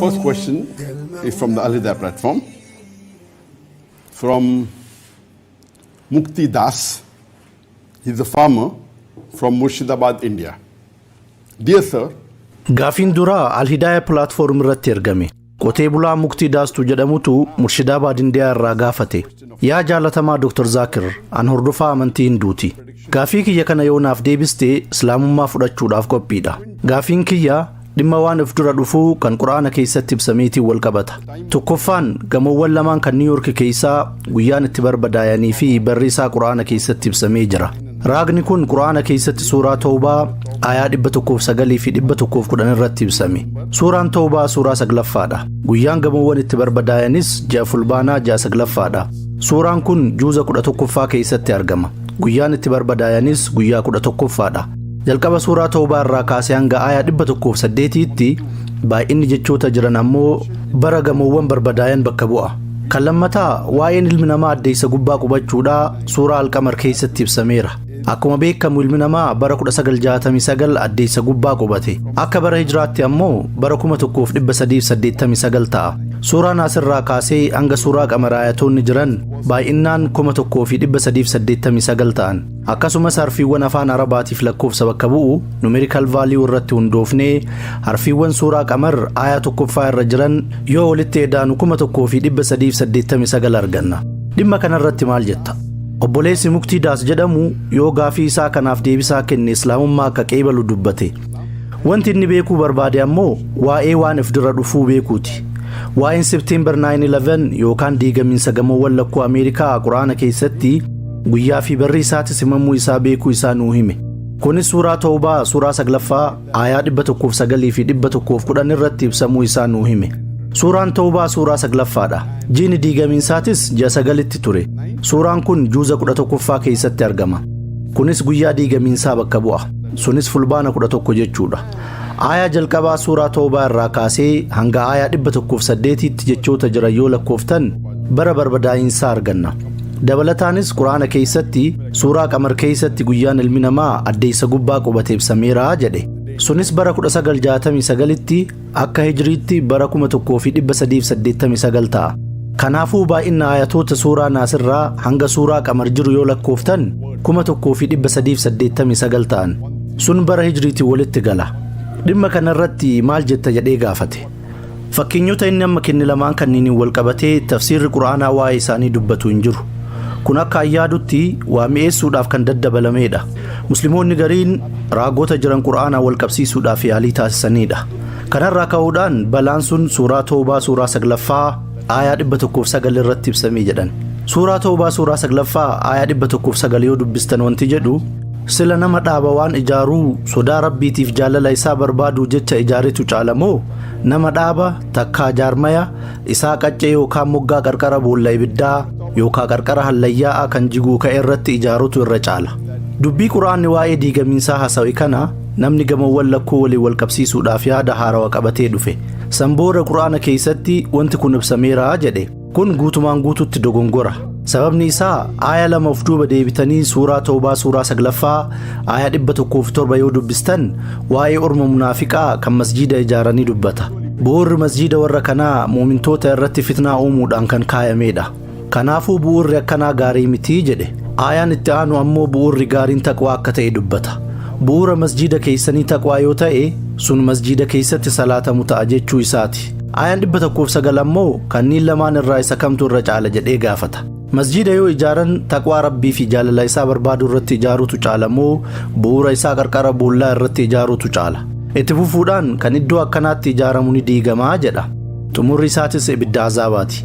First question is from the Alida platform. From Mukti Das. He's a farmer from Murshidabad, India. Dear sir, Gaafiin duraa Alhidaaya pilaatfoorm irratti ergame. Qotee bulaa Muktii Daastu jedhamutu Murshidaabaad Indiyaa irraa gaafate. Yaa jaalatamaa Dr. Zaakir, an hordofaa amantii Hinduuti. Gaafii kiyya kana yoo naaf deebiste Islaamummaa fudhachuudhaaf qophiidha. Gaafiin kiyya dhimma waan of dura dhufuu kan Qur'aana keessatti ibsameetiin wal qabata. Tokkoffaan gamoowwan lamaan kan Niiw Yoorki keessaa guyyaan itti barbadaayanii fi barri isaa Qur'aana keessatti ibsamee jira. Raagni kun Qur'aana keessatti suuraa Tawbaa aayaa 109 fi 110 irratti ibsame. Suuraan Tawbaa suuraa saglaffaadha. Guyyaan gamoowwan itti barbadaayanis ja'a fulbaanaa ja'a saglaffaadha. Suuraan kun juuza 11ffaa keessatti argama. Guyyaan itti barbadaayanis guyyaa 11ffaadha. Jalqaba suuraa Tawbaa irraa kaasee hanga aayaa 108tti baay'inni jechoota jiran ammoo bara gamoowwan barbadaayan bakka bu'a. Kan lammataa waa'een ilmi namaa addeessa gubbaa qubachuudha. Suuraa Alqamar keessatti ibsameera. Akkuma beekamu ilmi namaa bara 1969 addeessa gubbaa qubate. Akka bara hijraatti ammoo bara 1389 ta'a. Suuraa naasirraa kaasee hanga suuraa qamaraayatoonni jiran baay'innaan 1389 ta'an. Akkasumas harfiiwwan afaan arabaatiif lakkoofsa bakka bu'u numerikal vaaliyuu irratti hundoofnee harfiiwwan suuraa qamar aayaa tokkoffaa irra jiran yoo walitti edaanu 1389 arganna. Dhimma kanarratti maal jetta? Obboleessi Muktii Daas jedhamu yoo gaafii isaa kanaaf deebisaa kenne Islaamummaa akka qeebalu dubbate. Wanti inni beekuu barbaade ammoo waa'ee waan if dura dhufuu beekuuti. Waa'een September 9/11 yookaan diigamiinsa gamoowwan lakkuu Ameerikaa Qur'aana keessatti guyyaa fi barri isaatis himamuu isaa beekuu isaa nuu hime. Kunis suuraa Tawbaa suuraa 9ffaa aayaa 109 fi 110 irratti ibsamuu isaa nuu hime. Suuraan Tawbaa suuraa saglaffaadha. Jiini diigamiinsaatis ji'a sagalitti ture. Suuraan kun juuza 11ffaa keessatti argama. Kunis guyyaa diigamiinsaa bakka bu'a. Sunis fulbaana 11 jechuudha. Aayaa jalqabaa suuraa Tawbaa irraa kaasee hanga aayaa 108tti jechoota jiran yoo lakkooftan bara barbadaa'insaa arganna. Dabalataanis Qur'aana keessatti Suuraa Qamar keessatti guyyaan ilmi namaa addeessa gubbaa qubate ibsameera jedhe. Sunis bara 1969tti akka hijriitti bara 1389 ta'a. Kanaafuu baay'ina ayatoota suuraa naasirraa hanga suuraa qamar jiru yoo lakkooftan 1389 ta'an. Sun bara hijriitiin walitti gala. Dhimma kanarratti maal jetta jedhee gaafate. Fakkeenyota inni amma kenne lamaan kanniiniin wal qabatee tafsiirri Qur'aanaa waa'ee isaanii dubbatu hin jiru. Kun akka an yaadutti waa mi'eessuudhaaf kan daddabalameedha. Muslimoonni gariin raagoota jiran Qur'aanaa wal qabsiisuudhaaf yaalii taasisaniidha. Kanarraa ka'uudhaan balaan sun suuraa Toobaa suuraa saglaffaa aayaa 109 irratti ibsamii jedhan. Suuraa Tawbaa suuraa 9ffaa aayaa 109 yoo dubbistan wanti jedhu sila nama dhaaba waan ijaaruu sodaa rabbiitiif jaalala isaa barbaaduu jecha ijaaretu caala moo nama dhaaba takkaa jaarmaya isaa qaccee yookaan moggaa qarqara boolla ibiddaa yookaan qarqara hallayyaa'aa kan jiguu ka'e irratti ijaarutu irra caala. Dubbii quraanni waa'ee diigamiinsaa hasawe kana namni gamawwan lakkuu waliin wal qabsiisuudhaaf yaada haarawa qabatee dhufe. San booda Qur'aana keessatti wanti kun ibsameera jedhe. Kun guutumaan guututti dogongora. Sababni isaa aaya lama of duuba deebitanii suuraa Tawbaa suuraa saglaffaa aaya dhibba tokkoo fi torba yoo dubbistan waa'ee orma munaafiqaa kan masjiida ijaaranii dubbata. Bu'uurri masjiida warra kanaa muumintoota irratti fitnaa uumuudhaan kan kaayamedha. Kanaafuu bu'uurri akkanaa gaarii miti jedhe. Aayaan itti aanu ammoo bu'uurri gaariin taqwaa akka ta'e dubbata. Bu'uura masjiida keessanii taqwaa yoo ta'e, sun masjiida keessatti salaatamu ta'a jechuu isaati. Aayaan 109 ammoo kanniin lamaan irraa isa kamtu irra caala jedhee gaafata. Masjiida yoo ijaaran taqwaa Rabbii fi jaalala isaa barbaaduu irratti ijaaruutu caala moo bu'uura isaa qarqara boollaa irratti ijaaruutu caala? Itti fufuudhaan kan iddoo akkanaatti ijaaramu ni diigamaa jedha. Xumurri isaatis ibidda azaabaati.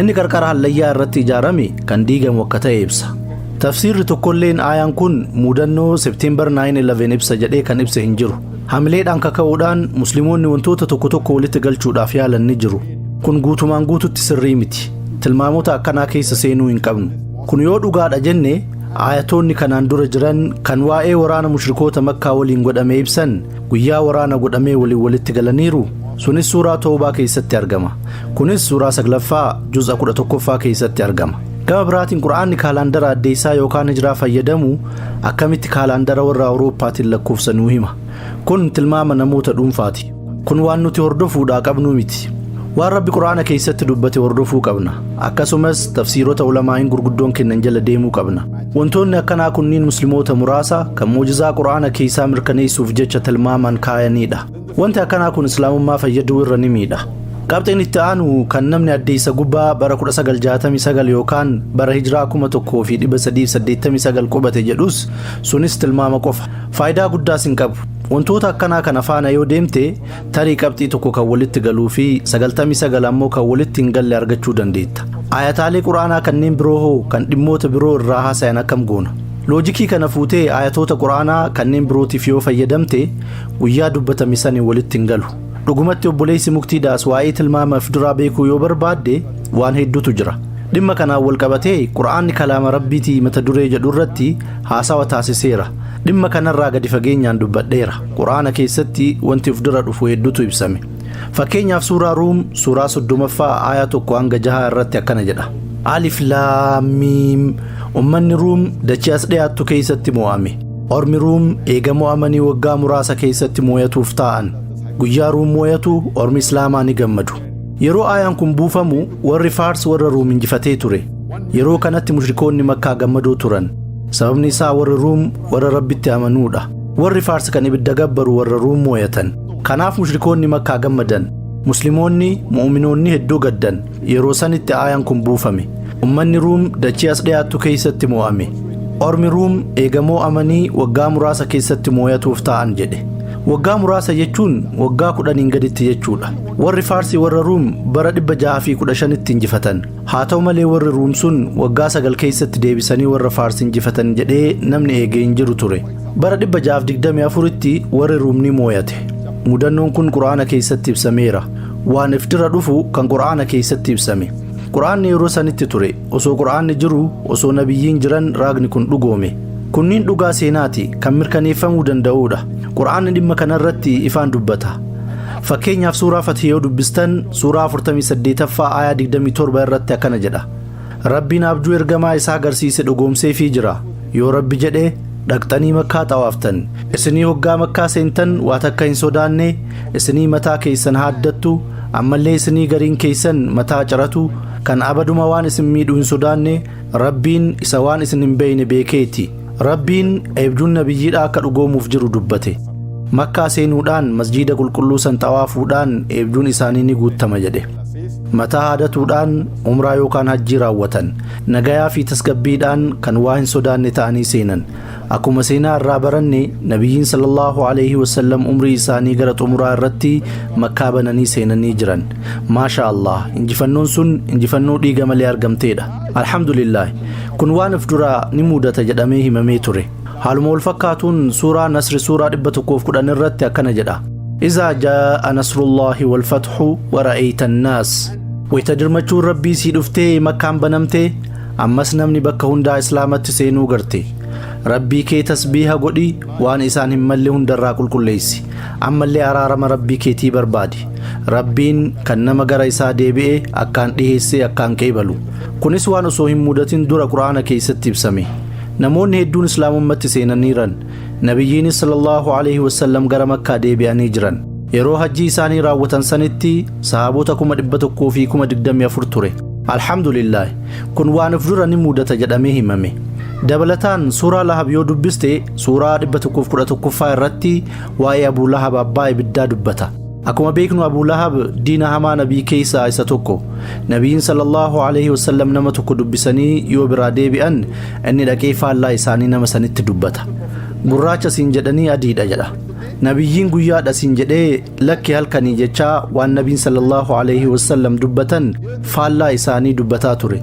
Inni qarqara hallayyaa irratti ijaarame kan diigamu akka ta'e ibsa. Tafsiirri tokkolleen aayaan kun muudannoo September 9/11 ibsa jedhee kan ibse hin jiru. Hamileedhaan kaka'uudhaan Musliimoonni wantoota tokko tokko walitti galchuudhaaf yaalan ni jiru. Kun guutumaan guututti sirrii miti. Tilmaamota akkanaa keessa seenuu hin qabnu. Kun yoo dhugaadha jenne aayatoonni kanaan dura jiran kan waa'ee waraana mushrikoota makkaa waliin godhame ibsan guyyaa waraana godhamee waliin walitti galaniiru sunis suuraa toobaa keessatti argama kunis suuraa saglaffaa juz'a kudha tokkoffaa keessatti argama gama biraatiin qura'aanni kaalaandara addeessaa yookaan hijiraa fayyadamu akkamitti kaalaandara warra awurooppaatiin lakkoofsa nuu hima kun tilmaama namoota dhuunfaati kun waan nuti hordofuudhaa qabnuu miti waan rabbi qura'aana keessatti dubbate hordofuu qabna akkasumas tafsiirota ulamaa'iin gurguddoon kennan jala deemuu qabna Wantoonni akkanaa kunniin muslimoota muraasa kan muujizaa qur'aana keeysaa mirkaneeysuuf jecha tilmaamaan kaayaniidha. Wanti akkanaa kun islaamummaa fayyaduu irra ni miidha. Qabxiin itti aanu kan namni addeeysa gubbaa bara 1969 yookaan bara hijraa 1389 qubate jedhus sunis tilmaama qofa. Faaydaa guddaas hin qabu. Wantoota akkanaa kana faana yoo deemte Tarii qabxii tokko kan walitti galuu fi 99 ammoo kan walitti hin galle argachuu dandeetta. Ayataalee Qur'aanaa kanneen biroo hoo kan dhimmoota biroo irraa haasayan akkam goona? Loojikii kana fuutee ayatoota Qur'aanaa kanneen birootiif yoo fayyadamte guyyaa dubbatame sani walitti hin galu. Dhugumatti obboleessi muktii daas waa'ee tilmaama of duraa beekuu yoo barbaadde waan hedduutu jira. Dhimma kanaan wal qabatee Qur'aanni kalaama Rabbiitii mata duree jedhu irratti haasawa taasiseera. Dhimma kanarraa gadi fageenyaan dubbadheera. Qur'aana keessatti wanti of dura dhufu hedduutu ibsame. Fakkeenyaaf suuraa Ruum suuraa soddomaffaa aayaa tokko hanga jahaa irratti akkana jedha. Alif laamiim ummanni Ruum dachii as dhiyaattu keessatti mo'ame. Ormi Ruum eega mo'amanii waggaa muraasa keessatti mooyatuuf taa'an. Guyyaa Ruum mooyatu ormi Islaamaa ni gammadu. Yeroo aayaan kun buufamu warri Faars warra Ruum injifatee ture. Yeroo kanatti mushrikoonni Makkaa gammadoo turan. sababni isaa warri ruum warra rabbitti amanuudha warri faarsi kan ibidda gabbaru warra ruum mooyatan kanaaf mushrikoonni makkaa gammadan muslimoonni mu'uminoonni hedduu gaddan yeroo sanitti aayaan kun buufame ummanni ruum dachii as dhiyaattu keessatti moo'ame ormi ruum eegamoo amanii waggaa muraasa keessatti mooyatuuf ta'an jedhe waggaa muraasa jechuun waggaa kudhaniin gaditti jechuudha warri faarsii warra ruum bara 615tti injifatan Haa ta'u malee warri Ruum sun waggaa sagal keessatti deebisanii warra Faars injifatan jedhee namni eegee hin jiru ture. Bara 624tti warri Ruum ni mooyate. Mudannoon kun Qur'aana keessatti ibsameera. Waan if dura dhufu kan Qur'aana keessatti ibsame. Qur'aanni yeroo sanitti ture. Osoo Qur'aanni jiru, osoo nabiyyiin jiran raagni kun dhugoome. Kunniin dhugaa seenaati kan mirkaneeffamuu danda'uudha. Qur'aanni dhimma kanarratti ifaan dubbata. Fakkeenyaaf suuraa Fathi yoo dubbistan suuraa 48ffaa aayaa 27 irratti akkana jedha. Rabbiin abjuu ergamaa isaa agarsiise dhugoomseefii jira. Yoo Rabbi jedhe dhaqxanii makkaa xawaaftan. Isinii hoggaa makkaa seentan waa takka hin sodaanne isinii mataa keeysan haaddattu ammallee isinii gariin keeysan mataa ciratu kan abaduma waan isin miidhu hin sodaanne Rabbiin isa waan isin hin beeyne beekeeti. Rabbiin eebjuun nabiyyiidhaa akka dhugoomuuf jiru dubbate. Makkaa seenuudhaan masjiida qulqulluu san xawaafuudhaan eebjuun isaanii ni guuttama jedhe. Mataa haadatuudhaan umraa yookaan hajjii raawwatan. Nagayaa fi tasgabbiidhaan kan waa hin sodaanne ta'anii seenan. Akkuma seenaa irraa baranne nabiyyiin sallallahu alaihi wasallam umrii isaanii gara xumuraa irratti makkaa bananii seenanii jiran. Maasha Allah injifannoon sun injifannoo dhiiga malee argamteedha. Alhamdulillaahi kun waan of duraa ni muudata jedhamee himamee ture. Haaluma wal fakkaatuun suuraa Nasri suuraa 110 irratti akkana jedha. Izaa jaa'a nasrullaahi wal fathu wa ra'ayta annaas. Wayita dirmachuun Rabbii sii dhuftee makkaan banamtee ammas namni bakka hundaa Islaamatti seenuu garte. Rabbii kee tasbiiha godhi waan isaan hin malle hundarraa qulqulleessi. Ammallee araarama Rabbii keetii barbaadi. Rabbiin kan nama gara isaa deebi'e akkaan dhiheessee akkaan qeebalu. Kunis waan osoo hin mudatin dura Qur'aana keessatti ibsame. Namoonni hedduun Islaamummatti seenaniiran. Nabiyyiinis sallallahu alaihi wasallam gara Makkaa deebi'anii jiran. Yeroo hajjii isaanii raawwatan sanitti sahaabota kuma dhibba tokkoo fi kuma digdamii afur ture. Alhamdulillah kun waan of dura ni mudata jedhamee himame. Dabalataan suuraa Lahab yoo dubbiste suuraa 111ffaa irratti waa'ee Abuu Lahab abbaa ibiddaa dubbata. Akkuma beeknu Abuu Lahab diina hamaa nabii keessaa isa tokko. Nabiin sallallahu alaihi wasallam nama tokko dubbisanii yoo biraa deebi'an inni dhaqee faallaa isaanii nama sanitti dubbata. Gurraacha siin jedhanii adiidha jedha. Nabiyyiin guyyaadha siin jedhee Lakki halkanii jechaa waan nabiin sallallahu alayhi wasallam dubbatan faallaa isaanii dubbataa ture.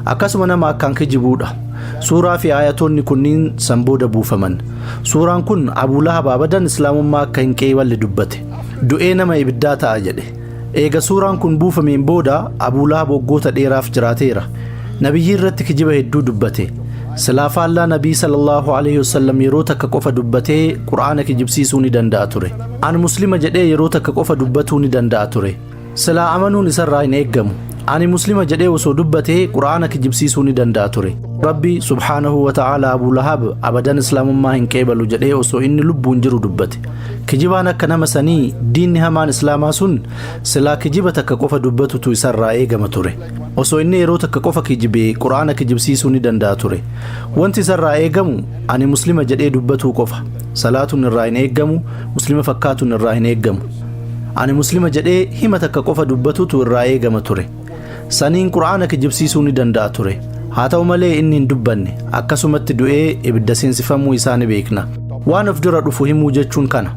Akkasuma nama akkaan kijibuudha. Suuraa fi aayatoonni kunniin san booda buufaman. Suuraan kun Abuu Lahab abadan islaamummaa akka hin qeeyballe dubbate. Du'ee nama ibiddaa ta'a jedhe. Eega suuraan kun buufameen booda Abuu Lahab waggoota dheeraaf jiraateera. Nabiyyii irratti kijiba hedduu dubbate. Silaa faallaa nabii sallallahu alayhi wasallam yeroo takka qofa dubbatee Qur'aana kijibsiisuu ni danda'a ture. An muslima jedhee yeroo takka qofa dubbatuu ni danda'a ture. Silaa amanuun isarraa hin eeggamu. Ani muslima jedhee osoo dubbatee qura'aana kijibsiisuu ni danda'a ture. Rabbi subhaanahu wa ta'aala Abu Lahab abadan islaamummaa hin qeebalu jedhee osoo inni lubbuun jiru dubbate. Kijibaan akka nama sanii diinni hamaan islaamaa sun silaa kijiba takka qofa dubbatutu isarraa eegama ture. Osoo inni yeroo takka qofa kijibe Qur'aana kijibsiisuu ni danda'a ture. Wanti isarraa eegamu ani muslima jedhee dubbatuu qofa. Salaatuun irraa hin eegamu, muslima fakkaatuun irraa hin eegamu. Ani muslima jedhee hima takka qofa dubbatutu irraa eegama ture. Saniin Qur'aana kijibsiisuu ni danda'a ture. Haa ta'u malee inni hin dubbanne, akkasumatti du'ee ibidda seensifamuu isaa ni beekna. Waan of dura dhufu himuu jechuun kana.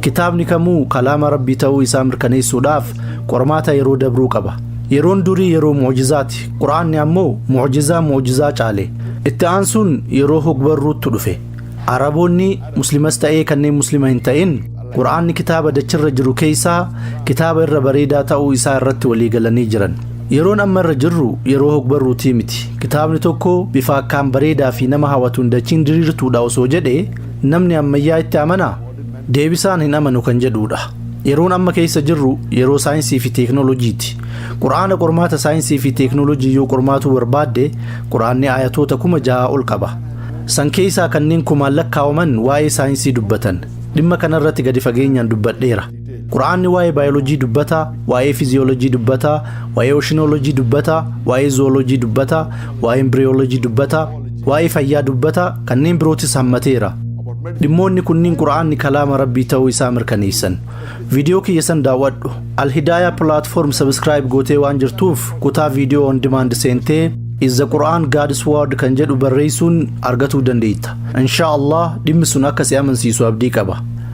Kitaabni kamuu kalaama Rabbii ta'uu isaa mirkaneessuudhaaf qormaata yeroo dabruu qaba. Yeroon durii yeroo mu'jizaati, Qur'aanni ammoo mu'jizaa mu'jizaa caale. Itti aansuun yeroo hogbarruuttu dhufe. Araboonni, Muslimas ta'ee kanneen Muslima hin ta'in, Qur'aanni kitaaba dachirra jiru keessaa kitaaba irra bareedaa ta'uu isaa irratti walii galanii jiran. Yeroon amma irra jirru yeroo hogbarruutii miti. Kitaabni tokko bifa akkaan bareedaa fi nama hawatuun dachiin diriirtuudha osoo jedhee namni ammayyaa itti amanaa? Deebisaan hin amanu kan jedhuudha. Yeroon amma keessa jirru yeroo saayinsii fi teeknooloojiiti. Qur'aana qormaata saayinsii fi teeknooloojii yoo qormaatuu barbaadde qur'aanni aayatoota kuma jahaa ol qaba. San keessaa kanneen kumaan lakkaawaman waa'ee saayinsii dubbatan. Dhimma kanarratti gadi fageenyaan dubbadheera. Qur'aanni waa'ee baayoloojii dubbata, waa'ee fiziyooloojii dubbata, waa'ee oshinooloojii dubbata, waa'ee zooloojii dubbata, waa'ee imbiriyooloojii dubbata, waa'ee fayyaa dubbata, kanneen birootis hammateera. Dhimmoonni kunniin Qur'aanni kalaama Rabbii ta'uu isaa mirkaneessan. Viidiyoo kiyya san daawwadhu. Al-Hidaaya platform subscribe gootee waan jirtuuf kutaa viidiyoo on demand seentee Is the Quran God's Word kan jedhu barreessuun argatuu dandeetta. Inshaa Allah dhimmi sun akka si amansiisu abdii qaba.